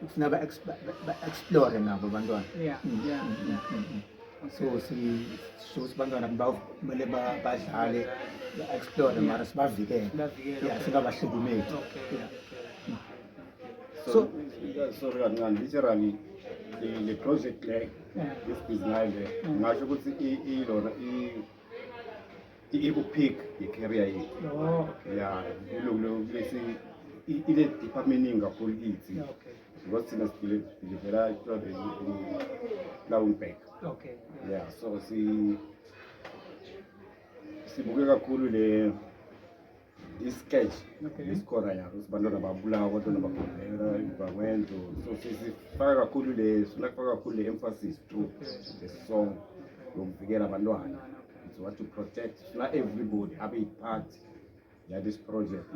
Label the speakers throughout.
Speaker 1: kufuna ba explore nabo abantwana yeah mm, yeah, mm, mm, yeah. so sisho ukuthi abantwana kumele badlale ba-explore mara sibavikele ya singabahlukumeli
Speaker 2: so sorry kancane literally le project le isibhizinayile ngasho ukuthi ilona I-Ecopic yi-carrier yethu. Oh. Ya, kulesi ile department eningi kakhulu kithi. Okay. Because thina sidilivela i-private Lauenberg. Okay.
Speaker 3: Ya, so si
Speaker 2: sibuke kakhulu le isketch isikora yabo sibantwana babulawa abantwana bagobhera bakwenzo so sifaka kakhulu le sifuna kufaka kakhulu le emphasis through the song yokuvikela abantwana so what to protect sifuna everybody abe yipart yalesi project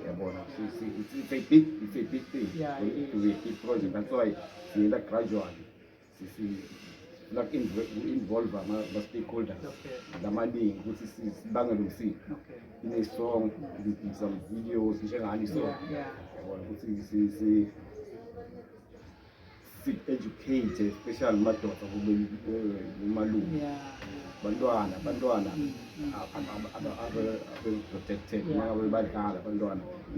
Speaker 2: yabona it's a big it's a big thing yeah, it is. it's a big project that's why siyela gradually sifuna ku-involve ama-stakeholders lamaningi ukuthi sibangele umsindo ine-song some videos njengani so yabona ukuthi si-educate especially madoda kumalume bantwana abantwana mm, mm. abe-protected nakabe badlala abantwana